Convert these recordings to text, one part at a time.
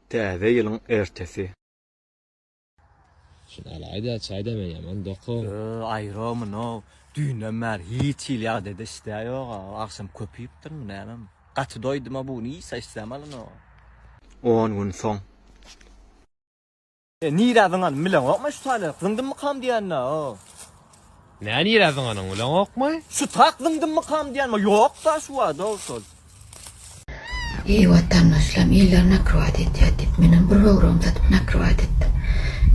Täze ýylyň ertesi. Şuny alaýda çaýda men ýaman dokam. Ýöö aýromyn how düýnden bäri hiç hili ýagdaýda işdä ýoga agşam köp iýipdirmi nämem gaty doýduma buny iýsa işdäm alynok. On gün soň. E nirä zyňan bileňokmy şu taýlary zyňdymmykam diýende o. Nä nirä zyňanyň bileňokmy? Şu tak zyňdymmykam diýenme ýokda şu wagt o şol. Eý watandaşlarym iller nakrywaýt etýär diýip menem bir böwregimi satyp nakrywaýt etdim.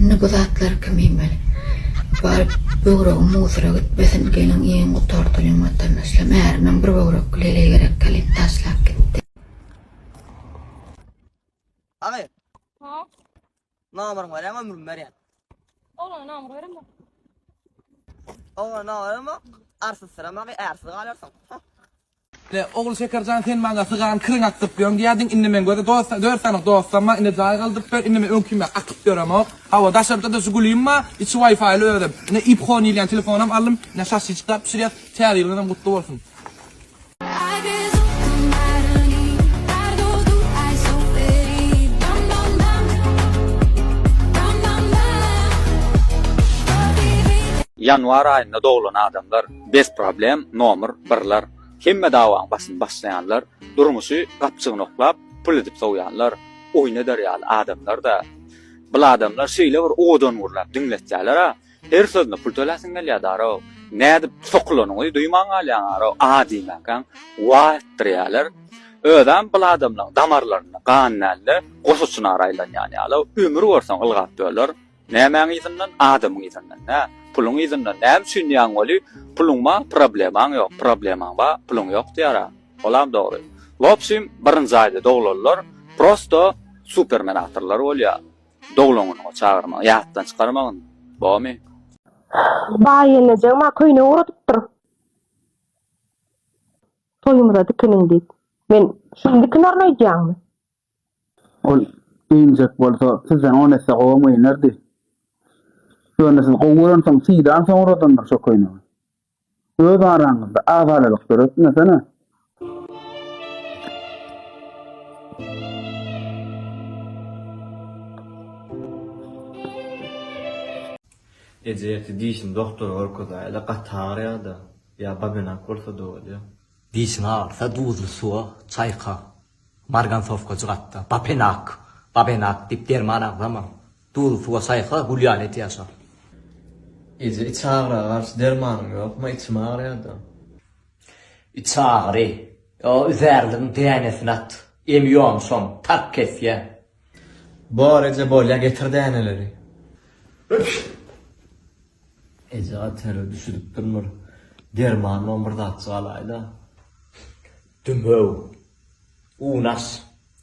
Indi bu zatlary kim iýmeli? Baryp böwregim musora gitmesin geliň iýiň gutardylyň watandaşlarym ärimem bir böwrekli heleý gerek gelip taşlap gitdi. Agy. Ha. Namyryň berýän ömrüm berýän. Oglana namyr berem bak. Oglana namyr berem bak. Arsyz syram agy, ärsiz galarsyň. Le ogul şekerjan sen maňa sygan kirin akdyryp ýörüň diýýärdiň indi men göze dost dört sanyň dostam bar indi jaý galdyryp ber indi men öňki ýaly akyp ýöremok hawa daşarda da žigulim bar içi waýfaýly özem indi ipho diýilýän telefonam aldym indi şaşyçka bişirýas täze ýylyňyzam gutly bolsun. Ýanwar aýynda doglan adamlar bes problem nomer birler hemme dawaň basyny başlaýanlar durmuşy gapjygyny oklap pul edip sowýanlar oýun eder ýaly adamlarda bul adamlar şeýle bir owadan gürläp diňletýälera Her sözüne pul töläsiň gelýär daro. Nädip sokulanyňy duýman galýaň aro a diýmäkäň wa etdirýäler. Özem bul adamlaň damarlarynda gan dälde goşa çynara aýlanýan ýaly ömür görseň ylgap böler. Nämäň yzyndan adamyň yzyndan nä puluň yzyndan näme üçin diýýäň weli puluň ba problemaň ýok problemaň ba puluň ýok diýýär a olam dogry. Wobşim birinji aýda doglanlar prosto supermenatorlar bolýar. Doglan günüňe çagyrmagy ýatdan çykarmagyn bomy. Baý gelneje ma köýnek ugradypdyr. Toýumyza dikiniň diýip. Men şuny dikinerin öýdýäňmi? Ol geýinjek bolsa sizden on esse gowam geýnerdi. Ýöne siz gowy görensoň syýdansoň uradandyr şo köýnegi. Öz araňyzda agzalalyk döretmesene. Eje ertir dişini dogtora görkezäýeli gaty agyrýada ýa babenak bolsada bolýa. Dişiň agyrsa duzly suwa çaýka. Margansowka jygatda Bapenak, Babenak, diýip derman agzama. Duzly suwa çaýka gül ýaly et ýaşa. Eje, içagyra garşy dermanyň ýokmy? Içim agyrýar-da. Içagyry, o üzärligiň dänesini at. Emi ýomşam, tark kesýär. Bor, eje, bolýar, getir däneleri. Eje, gaty terli düşüdipdirin, bir derman bolan bir zatjyk alaý-da. Dümew. Unaş.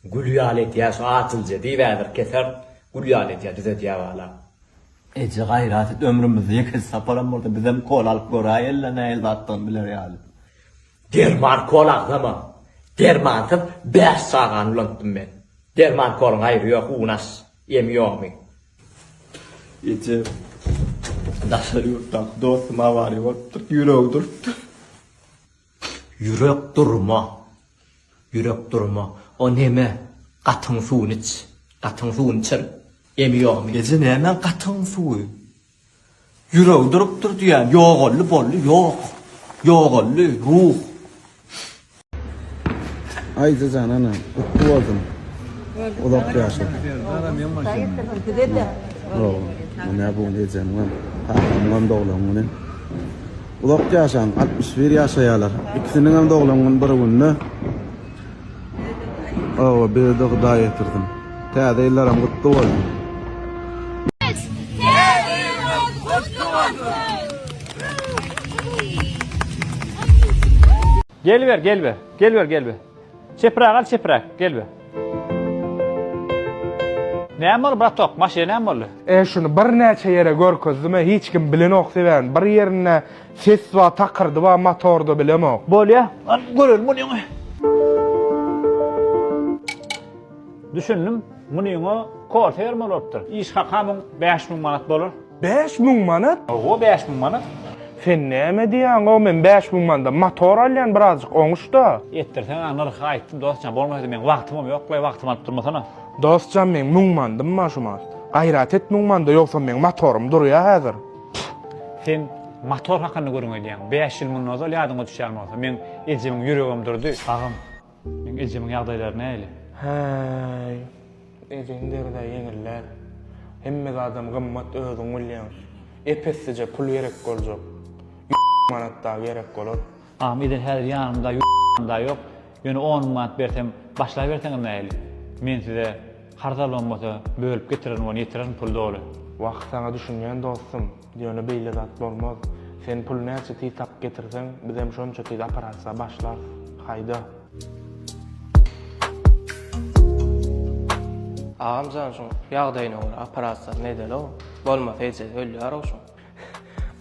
Gül ýaly edýär şu atylja diýip ädir keser, gül ýaly edýär, düzedýär bala. Eje gaýrat et ömrümizde ýeke saparam bolsa bizem kola alyp göräý ella nähili zatdygyny biler ýaly. Derman kola agzama. Dermansyz bäş çagany ulantdym men. Derman kolaň aýry ýok unaş. Emi ýomy. Eje daşary ýurtdaky dostum awariýa bolupdyr ýüregi durupdyr. Ýürek durma! Ýürek durma! O neme? Gatyň suwuny iç! Gatyň suwuny içer! Emi ýogmy? Eje nämäň gatyň suwy? Ýüregi durupdyr diýýän! Ýogaldy, boldy, ýok! Ýogaldy, ruh! Aýja jan ana, gutly bolsun! Uzak ýaşa! Sag bol! Munä bu gün ejemiňem, kakamyňam doglan güni. Uzak ýaşaň altmyş bir ýaşaýalar. Ikisiniňem doglan gün bir günde. Awa birde Hudaý etirsin. Täze ýyllaram gutly bolsun. Geliber, geliber, geliber, geliber. Çepräge al, çepräk, geliber. Näme boldy, bratok, maşyna näme boldy? E, şuny birnäçe ýere görkezdim-ä, hiç kim bilenok sebäbini. Bir ýerinde ses bar, takyrdy bar motorda, bilemok. Bolýa, al, görelim munyňy. Düşündim, munyňa korsa bermeli bolupdyr. Iş hakamyň bäş müň manat bolar. Bäş müň manat? Oho bäş müň manat. Sen näme diýýäň o men bäş müň manda motor alýan birazjyk oňuşda. Etdirseň a nyrhy aýtdym dostjan bolmasady meň wagtymam ýoklaý wagtym alyp durmasana. Dostjan meň müň mandym bar şu man. Gaýrat et müň manda ýogsam meň motorym durýa häzir. Pff sen motor hakynda gürrüň edýäň bäş ýyl mundan ozal ýadyňa düşýän bolsa meň ejemiň ýüregem durdy. Agam. Meň ejemiň ýagdaýlary nähili? Häý, ejeň deride ýeňil däl. Hemme zadam gymmat özüň bilýäň. Ep-essije pul gerek boljak. Ýüz manat dagy gerek bolar. Agam eje häzir ýanymda ýüz manadam dagy ýok. Ýöne on müň manat bersem başlaýberseňiz nähili? Men size karz almam bolsa bölüp getirerin ony ýetirerin pul doly. Wah saňa düşünýän dostum. Ýöne beýle zat bolmaz. Sen puly näçe tiz tapyp getirseň, bizem şonça tiz operasiýa başlarys. Haýda. Agam jan şuň ýagdaýyna görä operasiýasyny edeli-ow. Bolmasa ejesi ölýär-ow şuň.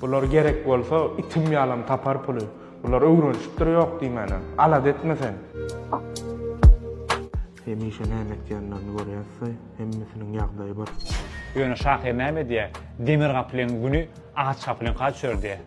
Bular gerek bolsa itim ýalam tapar puly. Bular öwrenişipdir ýok diýmänem. Alada etme sen. Hemişe näme etýänlerini görýäs-de, hemmesiniň ýagdaýy bir. Ýöne şahyr näme edýär? Demir gapylyň güni agaç gapylyňka düşerdi.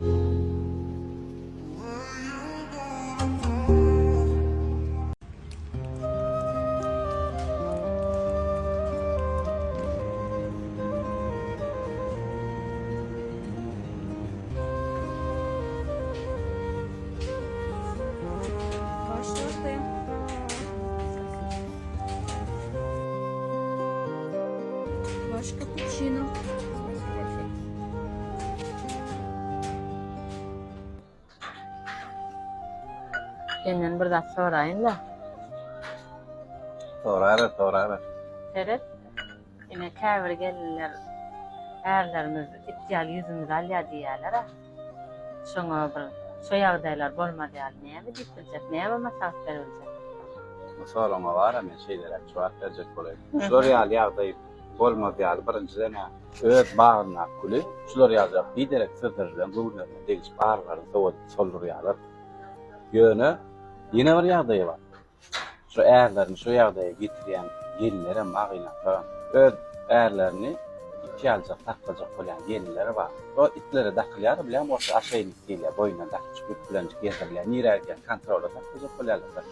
Senden bir zat soraýyn-da. Soraýlar, soraýlar. Seret. Ine käbir gelinler ärlerimiz it ýaly ýüzümizi alýar diýýärler-ä. Şoňa bir şo ýagdaýlar bolmaz ýaly näme diýip biljek, näme maslahat beriljek? Bu soragyňa wara men şeýleräk jogap berjek bolaýyn. Şular ýaly ýagdaý bolmaz ýaly birinjiden-ä öz bagyndaky güli şular ýaljak biderek sözler bilen göwünlerine degişip arylaryny sowadyp soldurýarlar. Ýöne ýene bir ýagdaý bar. Şu ärlerini şu ýagdaýa getirýän gelinlerem bar gynaklaram. Öz ärlerini itiý aljak saklajak bolýan gelinleri bar. O itlere dakylýar bilýän bolsa aşeýnik diýilýär boýnuna dakjyk ýüp bilenjik gezdirilýär nirä gidýän kontrola saklajak bolýarlar bir.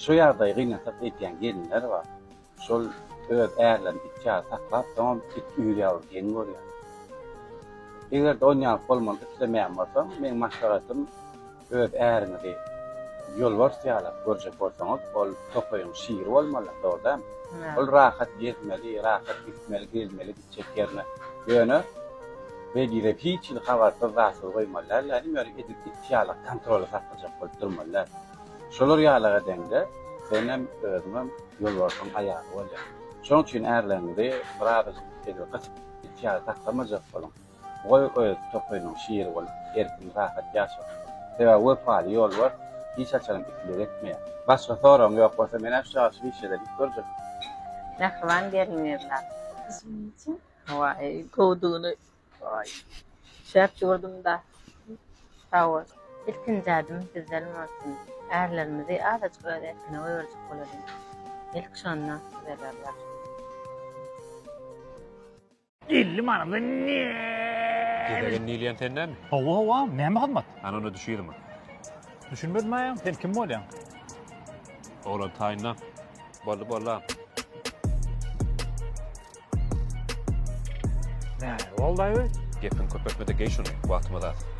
Şu ýagdaýy gynansat eýtýän gelinler bar. Şol öz ärlerini it ýaly saklap, soňam it üýr ýaly geň görýär. Eger-de on ýaly bolmagyny islemeýän bolsaň, meň maslahatym, öz äriňizi ýolbars ýalap görjek bolsaňyz, ol tokaýyň şiri bolmaly, dogry dämi? Ol rahat gezmeli, rahat gitmeli, gelmeli. çekýärler. Ýöne Begize hiç hili habarsyz zatsyz goýmaly däldiler, nimälik edip it ýalak kontroly saklajak bolup durmaly däl. Şolar ýalak edeňde senem özüňem ýolbarsyň aýaly bolýaň. Şonuň üçin ärleriňizi birazajyk edil gysyp it ýaly saklamajak boluň. Goý öz tokaýynyň şiri bolup, erkin-rahat ýaşasyn. Sebäbi wepaly ýolbars hiç haçanam ikilik etmeýär. Başga soragyň ýok bolsa, men-ä şu ýagşy bişeden it görjek. Mähriban gelin gyzlar. Üzümi içiň. Waý, gowudygyny. Waý, şäp ýüwürdim-dä. Sag bol. Ilkinji ädim bizden bolsun. Ärlerimizi azajyk öz erkine goýberjek bolalyň. Ilk şonda düzelerler. Elli manada ne? Gezegen diýilýän senden. Hawa hawa, näme hyzmat? Ana onda düşýärmi? Düşünmedim aýam, sen kim bolýaň? Oglan taýynda. Boldy boldy. Nä, boldy aýby? Gepiň köpeltmede geý şuny, wagtymyz az.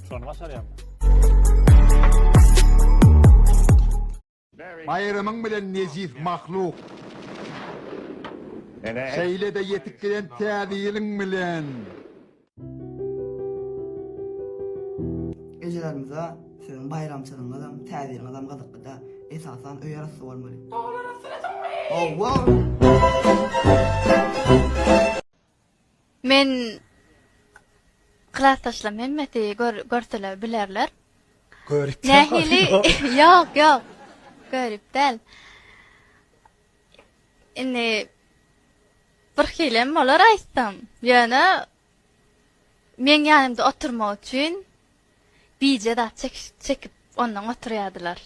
Şony başarýarmy? Baýramyň bilen nejis mahluk. Şeýle-de ýetip gelen Täze ýylyň bilen. Ejelerimize siziň baýramçylygyňyzam, Täze ýylyňyzam gyzyklyda. Esasan öý arassa bolmaly. Oglana süresiňmi? Hawa. Men klasdaşlam hemmesi görseler bilerler. Görüp Nähili? Ýok, ýok. Görüp däl. Indi bir hilem bolar aýtsam. Ýöne meň ýanymda oturmak üçin bije zat çekip ondan oturýardylar.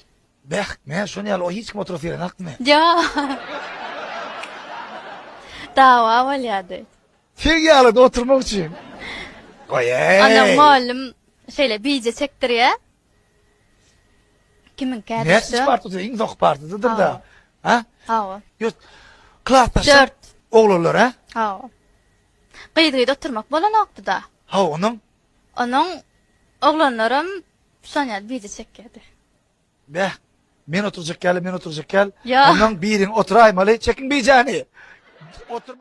Beh, näme şony ýaly o hiç kim oturasy gelenakmy? Dawa bolýardy. Sen ýalada oturmak üçin. Goýeý! Ondan mugallym şeýle bije çekdirýär. Kimiňkädir şu. Näçinji partada? Iň soňky partadadyr-da. Ha? Hawa. Ýurt. Klasdaşlar. Dört. Oglanlar, ha? Hawa. Gyz-gyz oturmak bolanokdy-da. Hawa, onuň? Onuň oglanlaram şony ýaly bije çekýärdi. Beh, men oturjak ýaly, men oturjak ýaly. Ondan biriň otyraýmaly, çekiň bijäni.